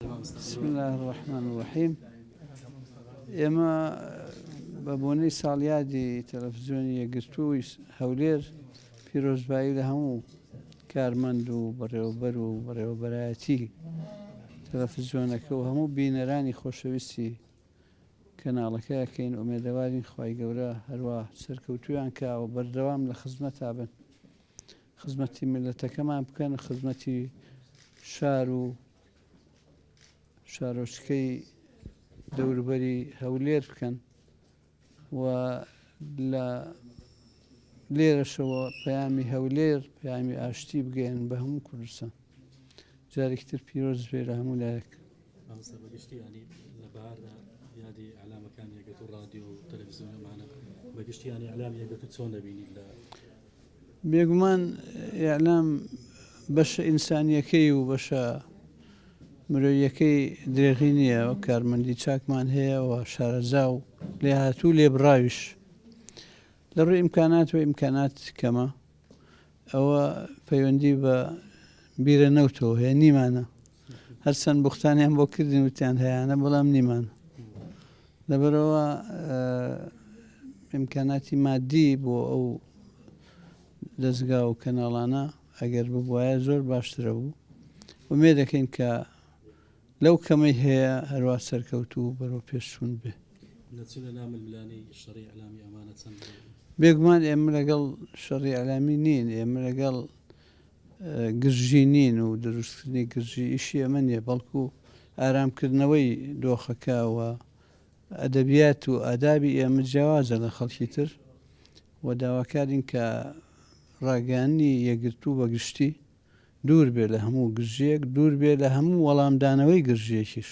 بسم اللە الرحمن الرحیم ئێمە بە بۆنەی ساڵیادی تەلەفزیۆنی یەکگرتووی هەولێر پیرۆزبایی لە هەموو کارمەند و بەڕێوەبەر و بەڕێوەبەرایەتی تەلەفزیۆنەکە و هەموو بینەرانی خۆشەویستی کەناڵەکەکەین ئومێدەوارین خی گەورە هەروە سەرکەوتویان کاوە بەردەوام لە خزمەت تا بن خزمەتی میلەتەکەمان بکەن خزمەتی شار و شارۆچکەی دەوروبەری هەولێر بکەن و لە لێرەشەوە پەیامی هەولێر پەیامی ئاشتی بگەێن بە هەموو کوردستان جارێکی تر پیرۆز بێ لە هەموو لایەک بەگشتیانی ئەلام یەکەکە چۆن دەبینیت لە بێگومان ئیعلام بەشە ئینسانیەکەی و بەشە مرۆیەکەی درێغی نییە و کارمەندی چاکمان هەیە و شارەزا و لێهاتوو لێبڕاویش لە ڕووی ئیمکانات و ئیمکانات کەمە ئەوە پەیوەندی بە بیرە نەوتەوە هەیە نیمانە هەرچەند بوختانیان بۆ کردین وتیان هەیانە بەڵام نیمان لەبەرەوە ئیمکاناتی مادی بۆ ئەو دەستگا و کەناڵانە ئەگەر ببواە زۆر باشترە بوو ومێ دەکەین کە لەو کەمەی هەیە هەروە سەرکەوتو و بەرەو پێشچوون بێ بێگومان ئێمە لەگەڵ شەڕی ئەلامی نین ئێمە لەگەڵ گرژی نین و دروستکردنی گرژی ئیشی ئەمە نیە بەڵکو ئارامکردنەوەی دۆخەکە و ئەدەبیات و ئادابی ئێمە جیاوازە لە خەڵکی تر و داواکارین کە ڕاگەیاندنی یەکگرتوو بە گشتی دوور بێ لە هەموو گرژیەک دوور بێ لە هەموو وەڵامدانەوەی گرژیەکیش.